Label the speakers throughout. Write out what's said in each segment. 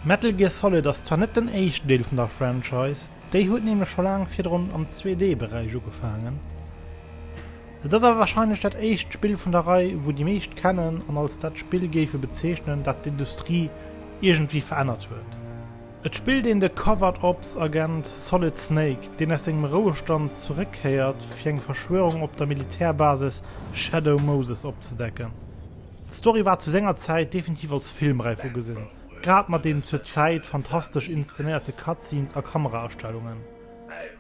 Speaker 1: Metal Gear Solid ass zwar net den éischten Deel vun der Franchise, déi huet nämlech scho laang virdrun am 2D-Beräich ugefaangen. Et ass awer warscheinlech dat éischt Spill vun der Rei, wou déi meescht kennen an als dat Spill géife bezeechnen, dat d'Industrie iergendwéi verännert huet. Et spillt een de Covert Ops Agent Solid Snake, deen aus sengem Rouestand zeréckkéiert, fir eng Verschwörung op der Militärbasis Shadow Moses opzedecken. D'Story war zu senger Zäit definitiv als Filmräif ugesinn, grad mat den zur Zäit fantastesch inszenéierte Cutscenes a Kameraaststellungen.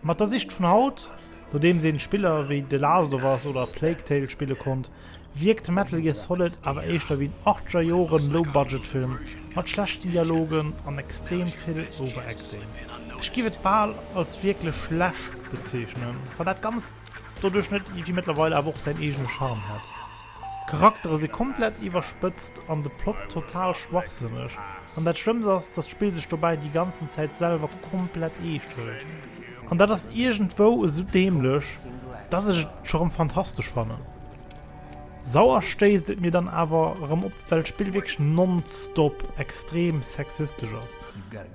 Speaker 1: Mat der Sicht vun haut, nodeems een Spiller wéi The Last of Us oder Plague Tale spille konnt, wierkt Metal Gear Solid awer éischter wéi en Achtscher Joren Low-Budget-Film mat schlechten Dialogen an extrem vill Overacting. Ech giff et bal als wierklech schlecht bezeechnen, wann dat Ganzt doduerch net iergendwéi mëttlerweil awer och säin eegene Charme hätt. D'Charaktere si komplett iwwerspëtzt an de Plot total schwachsënneg, an dat schlëmmst ass, dass d'Spill sech dobäi déi ganzen Zäit selwer komplett eescht hëlt. An dat ass iergendwou esou däämlech, dass ech et scho rëm fantastesch fannen. Sauer stéisst et mir dann awer rëm op, well d'Spill wierklech non-stop extrem sexistesch ass.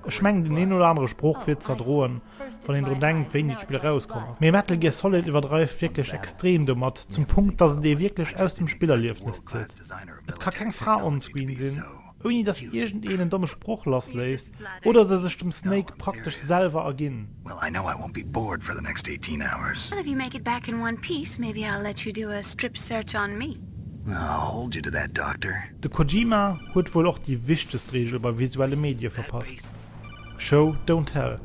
Speaker 1: Ech mengen den een oder anere Sprooch wier z'erdroen, wann een drun denkt wéini d'Spill erauskomm ass. Mee Metal Gear Solid iwwerdreift wierklech extrem domat, zum Punkt dass et ee wierklech aus dem Spillerliefnes zitt. Et ka keng Fra onscreen sinn, ouni dass iergend een en domme Sproch lass léisst, oder se sech dem Snake praktesch selwer erginn.
Speaker 2: De
Speaker 3: Kojima
Speaker 1: huet wuel och déi wichtegst Reegel bei visuelle Medie verpasst, Show don't tell.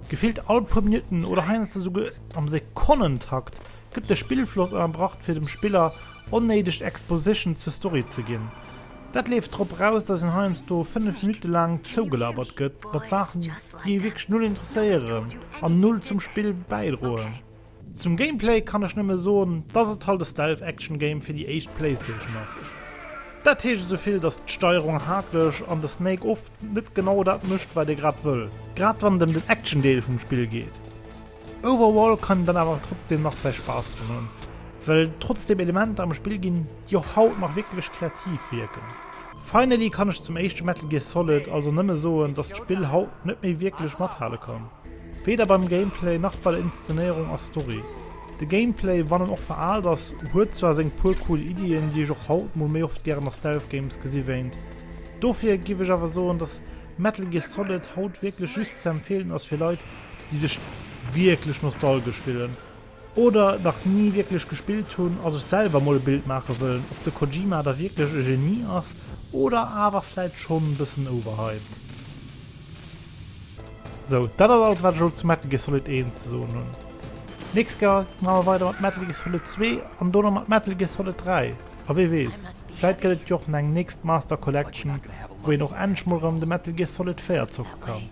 Speaker 1: Gefillt all puer Minutten oder heiansdo souguer am Sekonnentakt gëtt de Spillfloss ënnerbracht fir dem Spiller onnéideg Exposition zur Story ze ginn. Dat leeft drop raus dass een heiansdo 5 Minutte laang zougelabert gëtt mat Saachen déi ee wierklech null interesséieren an null zum Spill bäidroen. Zum Gameplay kann ech nëmme soen dass et halt e Stealth Action Game fir déi éischt Playstation ass. Dat heescht esouvill dass d'Steierung haaklech an de Snake oft net genau dat mécht wat ee grad wëll, grad wann et em den Action Deel vum Spill geet. Overall kann een dann awer trotzdeem nach säi Spaass dran hunn, well trotzdeem Elementer am Spill ginn déi och haut nach wierklech kreativ wierken. Finally kann ech zum éischte Metal Gear Solid also nëmme soen dass d'Spill haut net méi wierklech mathale kann. Weder beim Gameplay nach bei der Inszenéierung a Story. De Gameplay, wann en och veraalt ass, huet zwar seng puer cool Iddien, déi ech och haut mol méi oft gären a Stealth Games gesi wéint. Dofir giff ech awer soen, dass Metal Gear Solid haut wierklech just ze empfeelen ass fir Leit, déi sech wierklech nostalgesch fillen. oder nach ni wierklech gespillt hunn a sech selwer emol e Bild maache wëllen, ob de Kojima da wierklech e Genie ass oder awer vläit schonn e bëssen overhyped. Sou, dat ass alles wat ech elo zu Metal Gear Solid 1 ze soen hunn. D'nächst Kéier maache mer weider mat Metal Gear Solid 2 an dono mat Metal Gear Solid 3. A wee weess, vläit gëtt et jo och nach eng nächst Master Collection, wou een och endlech mol erëm de
Speaker 2: Metal
Speaker 1: Gear Solid 4 zocke kann.